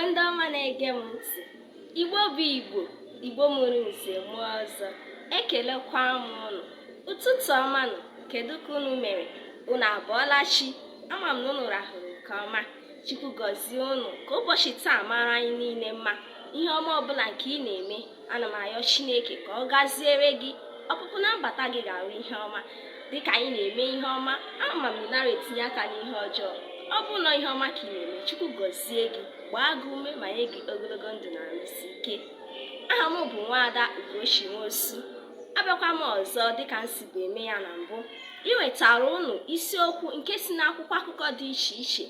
ndị ọma na-ege m ntị igbo bụ igbo igbo mụrụ nze mụọ ọzọ ekelekwa m unu ụtụtụ ọma nụ kedu ka unu mere unu abọọla chi ama m na unu rahụrụ nke ọma chukwu gọzie unu ka ụbọchị taa mara anyị niile mma ihe ọma ọbụla nke ị na-eme ana m ayọ chineke ka ọ gaziere gị ọpụpụ na mbata gị ga-arụ ihe ọma dịka anyị na-eme ihe ọma ama m ị nara etinye aka n'ihe ọjọọ ọ bụ na ihe ọma ka ị na-eme chukwu gọzie gị gbaa gị ume ma nye gị ogologo ndụ na arụ isi ike aha m bụ nwaada ugochi nwosu abịakwa m ọzọ dịka m sibu eme ya na mbụ iwetara unu isiokwu nke si n'akwụkwọ akụkọ dị iche iche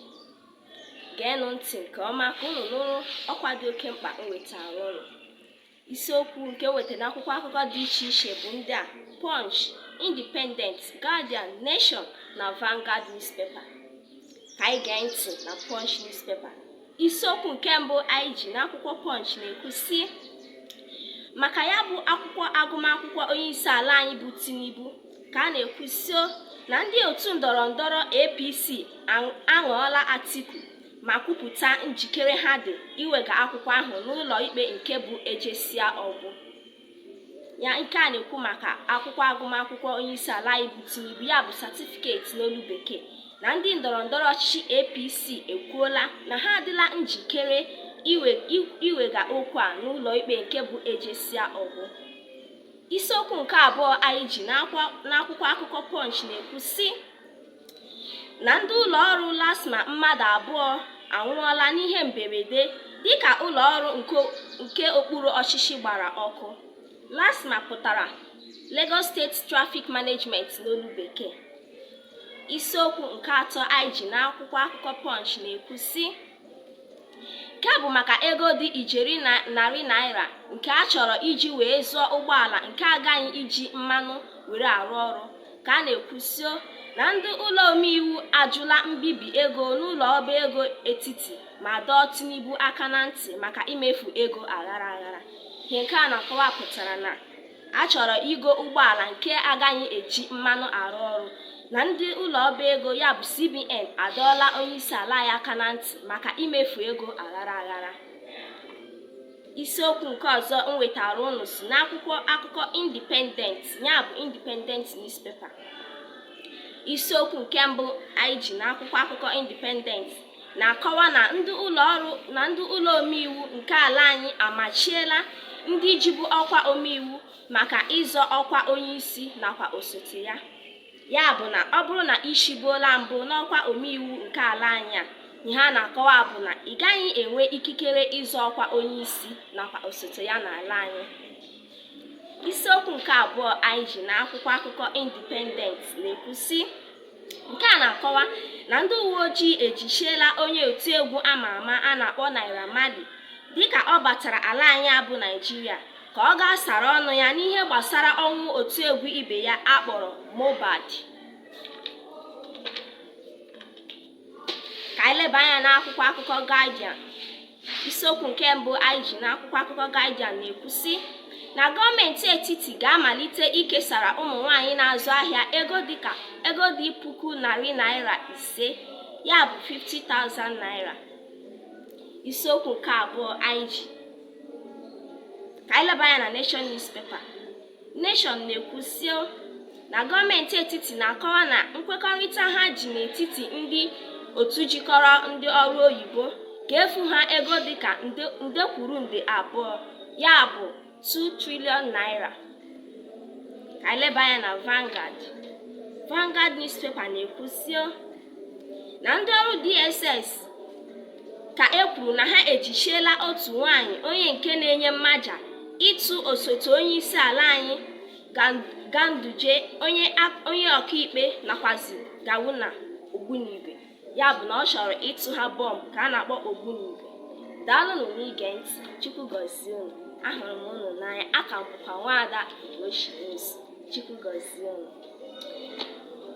geenụ ntị nke ọma ka unu nụrụ ọkwa dị oke mkpa m wetara unu isiokwu nke weta n'akwụkwọ akụkọ dị iche iche bụ ndị a Punch, Independent, Guardian, Nation na Vanguard newspaper ka anyị gee ntị na Punch newspaper isiokwu nke mbụ anyị ji n'akwụkwọ Punch na-ekwu sị maka ya bụ akwụkwọ agụmakwụkwọ onye isi ala anyị bụ Tinubu ka a na-ekwu sị o na ndị otu ndọrọ ndọrọ APC aṅụọla Atiku ma kwupụta njikere ha dị iwega akwụkwọ ahụ n'ụlọ ikpe nke bụ ejesịa ọ gwụ ihe nke a na-ekwu maka akwụkwọ agụmakwụkwọ onyeisi ala anyị bụ Tinubu ya bụ satifiketi n'olu bekee na ndị ndọrọ ndọrọ ọchịchị APC ekwuola na ha adịla njikere iwega okwu a n'ụlọ ikpe nke bụ ejesịa ọ gwụ isiokwu nke abụọ anyị ji n'akwụkwọ akụkọ Punch na-ekwu sị na ndị ụlọ ọrụ LASTMA mmadụ abụọ anwụọla n'ihe mberede dịka ụlọ ọrụ nke okpuru ọchịchị gbara ọkụ LASTMA pụtara Lagos State Traffic Management n'olu bekee isiokwu nke atọ anyị ji n'akwụkwọ akụkọ Punch na-ekwu sị nke bụ maka ego dị ijeri narị naira nke a chọrọ iji wee zụọ ụgbọala nke agaghị iji mmanụ were arụ ọrụ ka a na-ekwu sị o na ndị ụlọ omeiwu ajụla mbibi ego n'ụlọ ọba ego etiti ma dọọ Tinubu aka na ntị maka imefu ego aghara aghara ihe nke a na-akọwa pụtara na a chọrọ igo ụgbọala nke agaghị eji mmanụ arụ ọrụ na ndị ụlọ ọba ego ya bụ CBN adọọla onyeisi ala ya aka na ntị maka imefu ego aghara aghara isiokwu nke ọzọ m wetara unu si n'akwụkwọ akụkọ Independent ya bụ Independent newspaper isiokwu nke mbụ anyị ji n'akwụkwọ akụkọ Independent na-akọwa na ndị ụlọ ọrụ na ndị ụlọ omeiwu nke ala anyị amachiela ndị jibu ọkwa omeiwu maka ịzọ ọkwa onyeisi nakwa osote ya ya bụ na ọ bụrụ na i shibuola mbụ n'ọkwa omeiwu nke ala anyị a ihe a na-akọwa bụ na ị gaghị enwe ikikere ịzọ ọkwa onyeisi nakwa osote ya n'ala anyị isiokwu nke abụọ anyị ji n'akwụkwọ akụkọ Independent na-ekwu sị nke a na-akọwa na ndị uwe ojii ejichiela onye otiegwu ama ama a na-akpọ Naira Marley dịka ọ batara ala anyị a bụ Naịjirịa ka ọ gaa sara ọnụ ya n'ihe gbasara ọnwụ otiegwu ibe ya a kpọrọ Mohbad ka anyị leba anya n'akwụkwọ akụkọ Guardian isiokwu nke mbụ anyị ji n'akwụkwọ akụkọ Guardian na-ekwu sị na gọọmenti etiti ga-amalite ikesara ụmụ nwanyị na-azụ ahịa ego dịka ego dị puku narị naira ise ya bụ 50,000 naira isiokwu nke abụọ anyị ji ka anyị leba anya na Nation newspaper Nation na-ekwu sị o na gọọmenti etiti na-akọwa na nkwekọrịta ha ji n'etiti ndị otu jikọrọ ndị ọrụ oyibo ga-efu ha ego dịka nde kwuru nde abụọ ya bụ 2 trillion naira ka e leba anya na Vanguard Vanguard newspaper na-ekwu sị o na ndị ọrụ DSS ka e kwuru na ha ejichiela otu nwaanyị onye nke na-enye mmaja ịtụ osote onye isi ala anyị Ganduje onye ọkaikpe nakwazi Gawuna ogbunigwe ya bụ na ọ chọrọ ịtụ ha bọmbụ ka a na-akpọ ogbunigwe daalụnụ n'ige ntị Chukwu gọzie unu ahụrụ m unu n'anya a ka m bụkwa nwaada Ugochi Chukwu gọzie unu